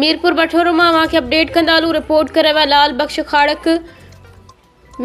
ميرپوربٺورو مان اوهان کي اپڊيٽ ڪندالون رپورٽ ڪري ويا لال بخش کاڙڪ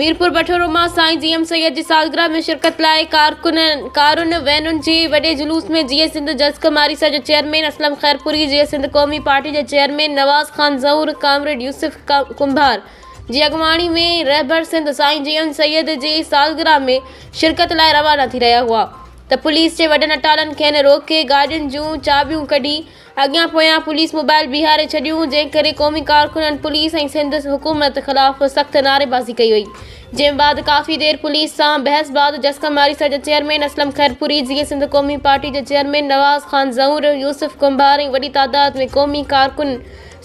ميرپوربٺورو مان سائين جي ايم سيد جي سالگرهه ۾ شرڪت لاء ڪارڪنن ڪارن وينن جي وڏي جلوس ۾ جيئي سنڌ جز ڪماري سيل جي چيئرمين اسلم خيرپوري جيئي سنڌ قومي پارٽي جي چيئرمين نواز خان زئور ڪامريڊ يوسف ڪنڀار جي اڳواڻي ۾ رهبر سنڌ سائين جي ايم سيد جي سالگرهه ۾ شرڪت لاء روانا ٿي رهيا هئا ته پوليس جي وڏن اٽالن کين روڪي گاڏين جون چاٻيون ڪڍي اڳيان پويان پوليس موبائل بيهاري ڇڏيون جنهن ڪري قومي ڪارڪنن پوليس ۽ سنڌ حڪومت خلاف سخت نعريبازي ڪئي وئي جنهن بعد ڪافي دير پوليس سان بحث بعد جسڪم آريسا جا چيئرمين اسلم خيرپوري جيئي سنڌ قومي پارٽي جا چيئرمين نواز خان زئور يوسف ڪنڀار ۽ وڏي تعداد ۾ قومي ڪارڪن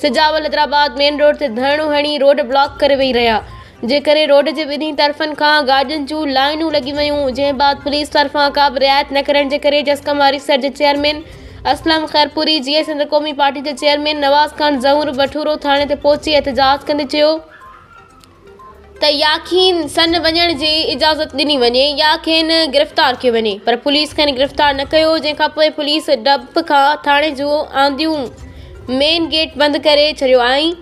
سجاول حيدرآباد مين روڊ تي ڌرڻو هڻي روڊ بلاڪ ڪري ويهي رهيا جنهن ڪري روڊ جي ٻنهي طرفن کان گاڏين جون لائينون لڳي ويون جنهن بعد پوليس طرفان ڪابه رعايت نه ڪرڻ جي ڪري جسقم واري سر جي چيئرمين اسلم خيرپوري جيئي سنڌ قومي پارٽي جي چيئرمين نواز خان زهور بٺورو ٿاڻي تي پهچي احتجاج ڪندي چيو ته يا کين سن وڃڻ جي اجازت ڏني وڃي يا کين گرفتار ڪيو وڃي پر پوليس کين گرفتار نه ڪيو جنهن کان پوء پوليس ڊپ کان ٿاڻي جون آنديون مين گيٽ بند ڪري ڇڏيو ۽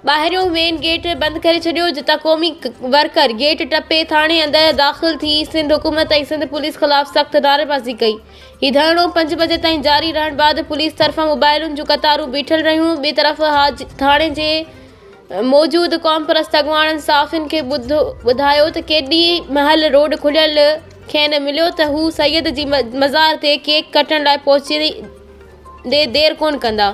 ٻاهريون مين گيٽ بند ڪري ڇڏيو جتان قومي ورڪر گيٽ ٽپي ٿاڻي اندر داخل ٿي سنڌ حڪومت ۽ سنڌ پوليس خلاف سخت نعريبازي ڪئي هي ڌرڻو پنج بجي تائين جاري رهڻ بعد پوليس طرفان موبائلن جون قطارون بيٺل رهيون ٻي طرف ٿاڻي جي موجود قومپرست اڳواڻن صحافين کي ٻڌايو ته ڪيڏي مهل روڊ کليل کين مليو ته هو سيد جي مزار تي ڪيڪ ڪٽڻ لاء پهچي ڏي دير ڪونه ڪندا.